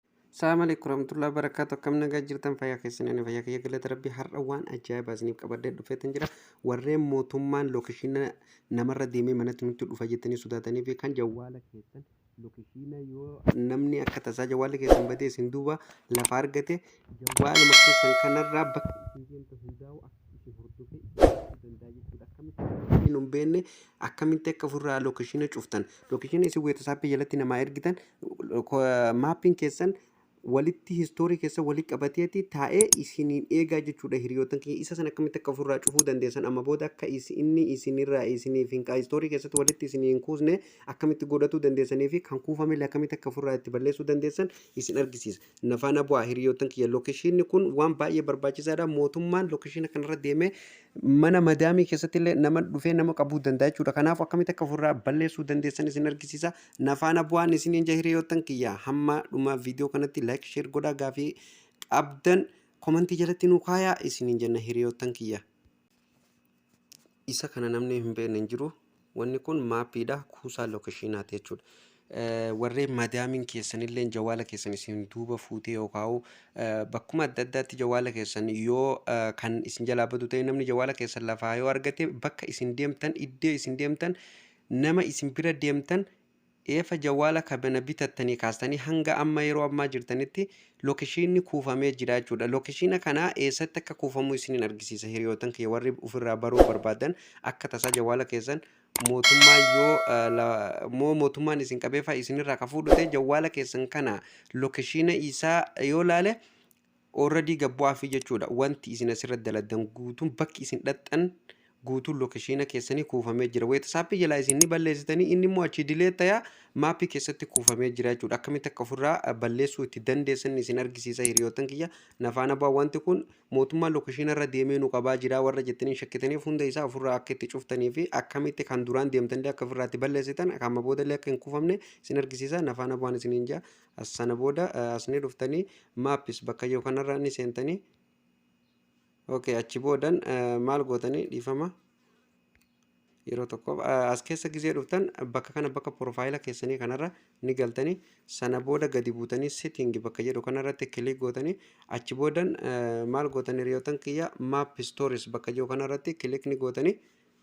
Assalamu alaikum warahmatullahi wabarakatuh. Akkam nagaa jirtan fayyaa keessan ani fayyaa kiyya galata rabbii har'a waan ajaa'ibaa isiniif qabadhee dhufeetan jira. Warreen mootummaan lookeshiina namarra deemee manatti nutti dhufa jettanii sodaatanii fi kan jawwaala keessan lookeshiina yoo namni akka tasaa jawwaalli keessan badee isin duuba lafa argate jawwaaluma keessan kanarraa bakka isin deemtu hundaa'u akka isin hordofee isin gochuu danda'a jechuudha. Akkamitti akka isin hin beekne akkamitti akka ofirraa lookeshiina cuftan lookeshiina isin weetasaappii jalatti namaa ergitan Maappiin keessan walitti histoorii keessa walitti qabateeti taa'ee isiniin eegaa jechuudha hiriyootan keenya isa sana akkamitti akka ofirraa cufuu dandeessan amma booda akka inni isinirraa isiniif hin histoorii keessatti walitti isinii hin kuusne akkamitti godhatuu dandeessanii fi kan kuufamillee akkamitti akka ofirraa itti balleessuu dandeessan isin argisiisa. Na faana bu'aa hiriyootan kiyya lookeshiinni kun waan baay'ee barbaachisaadha mootummaan lookeshiina kanarra deemee mana madaamii keessatti illee nama dhufee nama qabuu danda'a jechuudha kanaaf akkamitti akka ofirraa balleessuu dandeessan isin argisiisa. Nafaana bu'aan isiniin jaa hiriyoottan kiyya hamma dhuma viidiyoo kanatti like share godhaa gaafii qabdan komantii jalatti nuu kaayaa isiniin jenna hiriyoottan kiyya. Isa kana namni hin beekne hin jiru. Wanni kun maappiidha kuusaa lookeshiinaati jechuudha. Warreen madaamiin keessanillee jawaala keessan isin duuba fuutee yookaan bakkuma adda addaatti jawaala keessan yoo kan isin jalaa badu ta'e namni jawaala keessan lafaa yoo argate bakka isin deemtan iddoo isin deemtan Nama isin bira deemtan eefa jawwaala kabana bitattanii kaastanii hanga amma yeroo ammaa jirtanitti lokeshiinni kuufamee jira jechuudha. Lokeshiina kana eessatti akka kuufamuu isiniin argisiisa hiriyootan kiyya warri ofirraa baruu barbaadan akka tasaa jawwaala keessan mootummaa yoo eh, la- moo mootummaan isin qabeefaa isinirraa ka fuudhu ta'e jawwaala keessan kana lokeshiina isaa yoo laale Already gad bu'aafii jechuudha. Wanti isin asirratti daladdan guutuun bakki isin dhaqxan guutuun lookeshiina keessanii kuufamee jira. Weetisaappii jalaa isin ni balleessitanii inni immoo achii dilee taya maappii keessatti kuufamee jira jechuudha. Akkamitti akka ofirraa eh, balleessuu itti dandeessan isin argisiisa hiriyootan kiyya. Nafaana bu'aa wanti kun mootummaa lookeshiina irra deemee nu qabaa jira warra jettaniin shakkitaniif hunda isaa ofirraa akka itti cuftanii fi akkamitti kan duraan deemtanillee akka ofirraatti balleessitan kan amma boodallee akka hin kuufamne isin argisiisa. Nafaana bu'aan isiniin jaa. As sana booda eh, as ni dhuftanii maps bakka yoo kanarraa ni seentanii okay achi boodan eh, maal gootanii dhiifama yeroo tokkoof eh, as keessa gizee dhuftan bakka kana bakka profaayila keessanii kanarra ni galtanii sana booda gadi buutanii sitting bakka jedhu kanarratti kilik gootanii achi boodan eh, maal gootanii riyootan kiyya map stories bakka jiru kanarratti kilik ni gootanii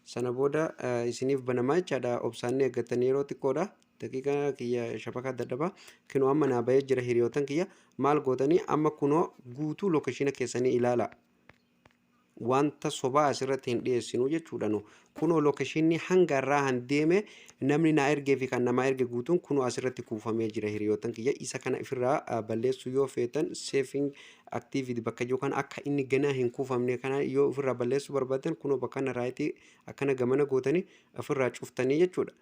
Sana booda isiniif banamaa jechaadha. Obsaan ni eeggattanii yeroo xiqqoodha. Daqiiqa kiyya shabakaa dadhabaa. Kinoo amma naa bahee jira hiriyootan kiyya. Maal gootanii amma kunoo guutuu lookeshiina keessanii ilaala. Wanta sobaa asirratti hin dhiyeessinu jechuudha nu. Kunoo lookeshiinni hanga har'aa han deeme namni naa ergee fi kan namaa erge guutuun kunoo asirratti kuufamee jira hiriyootan kiyya. Isa kana ifirraa balleessuu yoo feetan seefiin activity bakka jiru kana akka inni ganaa hin kuufamne kana yoo ofirraa balleessuu barbaaddan kunoo bakka kana raayitii akkana gamana gootanii ofirraa cuftanii jechuudha.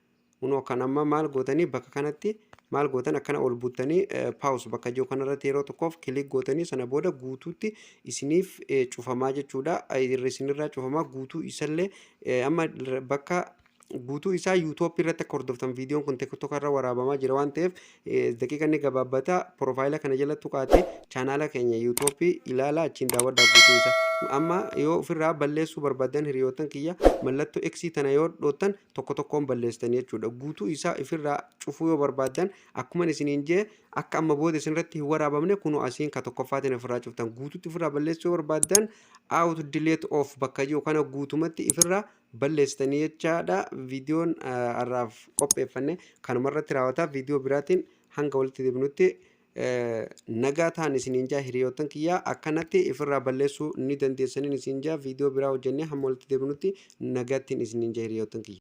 Kunoo kan amma maal gootanii bakka kanatti maal gootan akkana ol buttanii paawus bakka jiru kanarratti yeroo tokkoof kilik gootanii sana booda guutuutti isiniif eh, cufamaa jechuudha. Eh, Isinirraa cufamaa guutuu isallee eh, amma bakka guutuu isaa yuutoopii irratti akka hordoftan viidiyoon kun tiktoka irra waraabamaa jira waan ta'eef daqiiqa inni gabaabbata piroofaayila kana jala tuqaatee chaanaala keenya yuutoopii ilaala achiin daawwadhaa guutuu isaa amma yoo ofirraa balleessuu barbaadan hiriyootan kiyya mallattoo eksii tana yoo dhoottan tokko tokkoon balleessan jechuudha guutuu isaa ofirraa cufuu yoo barbaadan akkuma isiniin jee akka amma booda isinirratti hin waraabamne kunoo asiin ka tokkoffaatiin ofirraa cuftan guutuutti ofirraa balleessuu yoo barbaadan out delete off bakka jiru kana guutumatti ofirraa balleessitanii jechaadha. Viidiyoon har'aaf qopheeffanne kanuma irratti raawwata. Viidiyoo biraatiin hanga walitti deebinutti nagaa ta'an isiniin jaa hiriyoottan kiyyaa akkanatti ifirraa balleessuu ni dandeessaniin isiniin jaa viidiyoo biraa hojjennee hamma walitti deebinutti nagaattiin isiniin jaa hiriyoottan kiyya.